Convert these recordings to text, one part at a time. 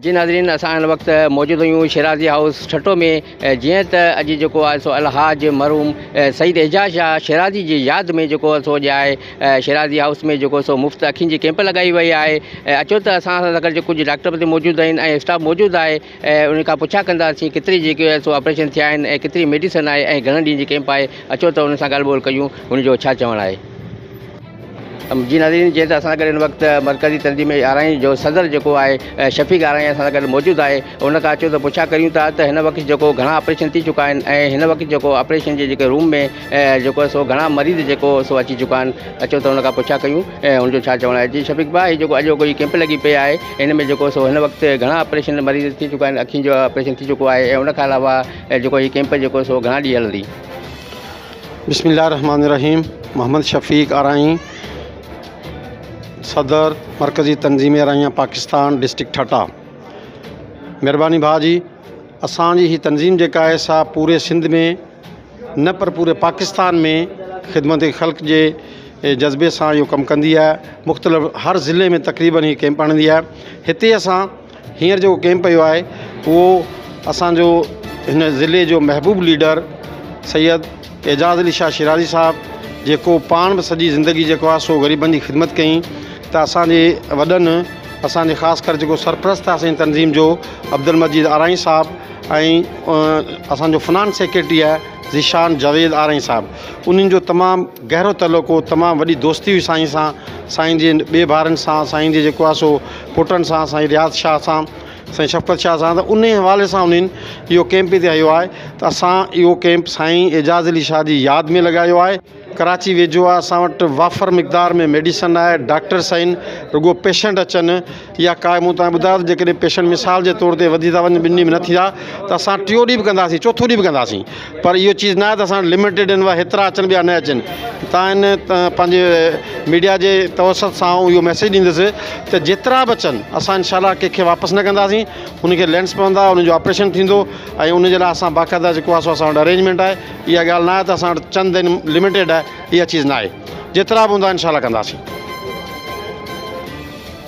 جي ناظرين اسان هن وقت موجود آهيون شيرازي هائوس ٺٽو ۾ جئين ته اڄ جيڪو آهي سو الحاج مرحوم سيد اعجاز شاهه شيرازي جي ياد ۾ جيڪو سو اڄ آهي شيرازي هائوس ۾ جيڪو سو مفت اکين جي ڪيمپ لڳائي وئي آهي اچو ته اسان سان گڏ جي ڪجهه ڊاڪٽر به موجود آهن ۽ اسٽاف موجود آهي ان کان پڇا ڪنداسين ڪيتري جيڪي آهي سو آپريشن ٿيا آهن ۽ ڪيتري ميڊيسن آهي ۽ گهڻن ڏينهن جي ڪيمپ آهي اچو ته ان سان ڳالهه ٻولهه ڪيون ان جو ڇا چوڻ آهي جي ناظرين جيئن ته اسان سان گڏ هن وقت مرڪزي تنظيم آرائين جو صدر جيڪو آهي شفيق آرائين اسان سان گڏ موجود آهي ان کان اچو ته پڇا ڪريون ٿا ته هن وقت جيڪو گهڻا آپريشن ٿي چڪا آهن ۽ هن وقت جيڪو آپريشن جي جيڪي روم ۾ جيڪو آهي سو گهڻا مريض جيڪو سو اچي چڪا آهن اچو ته ان کان پڇا ڪيون ۽ ان جو ڇا چوڻ آهي جي شفيق ڀاء هي جيڪو اڄوڪو هي ڪيمپ لڳي پئي آهي ان ۾ جيڪو سو هن وقت گهڻا آپريشن مريض ٿي چڪا آهن اکين جو آپريشن ٿي چڪو آهي ۽ ان کان علاوه جيڪو هي ڪيمپ جيڪو سو گهڻا ڏينهن هلندي بسم الله الرحمٰن الرحيم محمد شفيق آرائين صدر مرڪزي تنظيم آرائين پاڪستان ڊسٽرڪٽ ٺٽا مھرباني ڀاء جي اسان جي ھي تنظيم جيڪا آھي سا پوري سنڌ ۾ نه پر پوري پاڪستان ۾ خدمت خلق جي جذبي سان اھو ڪم ڪندي آھي مختلف ھر ضلعي ۾ تقريبن ھي ڪيمپ ھڻندي آھي ھتي اسان هينئر جيڪو ڪئمپ پيو آهي اهو اسانجو هن ضلعي جو محبوب ليڊر سيد اعجاز علي شاهه شيرازي صاحب جيڪو پاڻ به سڄي زندگي جيڪو آهي سو غريبن جي خدمت ڪئي ته اسانجي وڏن اسانجي خاص ڪر جيڪو سرپرست آهي اسانجي تنظيم جو عبدالمجيد آرائين صاحب ۽ اسانجو فنانس سيڪريٽري آهي ذيشان جاويد آرائين صاحب انهن جو تمام گهرو تعلق هو تمام وڏي دوستي هئي سائين سان سائين جي ٻئي ڀائرن سان سائين جي جيڪو آهي سو پٽن سان سائين رياض شاهه سان سائين شفقت شاهه سان ته انهي حوالي سان انهن اهو ڪئمپ هتي هنيو آهي ته اسان اهو ڪئمپ سائين اعجاز علي شاهه جي ياد ۾ لڳايو آهي ڪراچي ويجهو آهي اسان وٽ وافر مقدار ۾ ميڊيسن آهي ڊاڪٽرس آهن رڳو پيشنٽ اچن يا ڪا مون تان ٻڌايو ته جيڪڏهن پيشنٽ مثال جي طور تي وڌي ٿا وڃن ٻن ڏينهن ۾ نه ٿيا ته اسان ٽيو ڏينهن به ڪنداسين چوٿو ڏينهن به ڪنداسين پر اهو چيز ناهي ته اسان وٽ لميٽيڊ آهن اها هيترا اچن به يا نه اچن تان هن پنهنجي ميڊيا جي توسط سان آئون اهو ميسيج ڏيندس ته جيترا به اچن اسان انشاء الله ڪنهن کي واپس نه ڪنداسين ان کي لينس پوندا ان جو آپريشن ٿيندو ۽ ان جي لاء اسان باقاعده جيڪو آهي سو اسان وٽ ارينجمينٽ آهي اها ڳالهه ناهي ته اسان وٽ چند آهن لميٽيڊ آهي اها چيز ناهي جيترا به هوندا انشاء الله ڪنداسين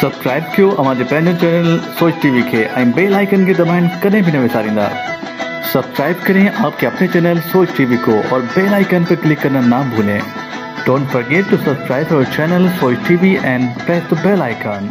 سبسڪرائب ڪيو اوهان جي پنهنجي چينل سوچ ٽي وي کي ۽ بيل آئيڪن کي دٻائڻ ڪڏهن به نه وساريندا سبسڪرائب ڪرين آپ ڪي اپني چينل سوچ ٽي وي ڪو اور بيل آئيڪن پي ڪلڪ ڪرنا نا ڀولين ڊونٽ فرگيٽ ٽو سبسڪرائب اور channel Soch T V and press ته بيل آئيڪن.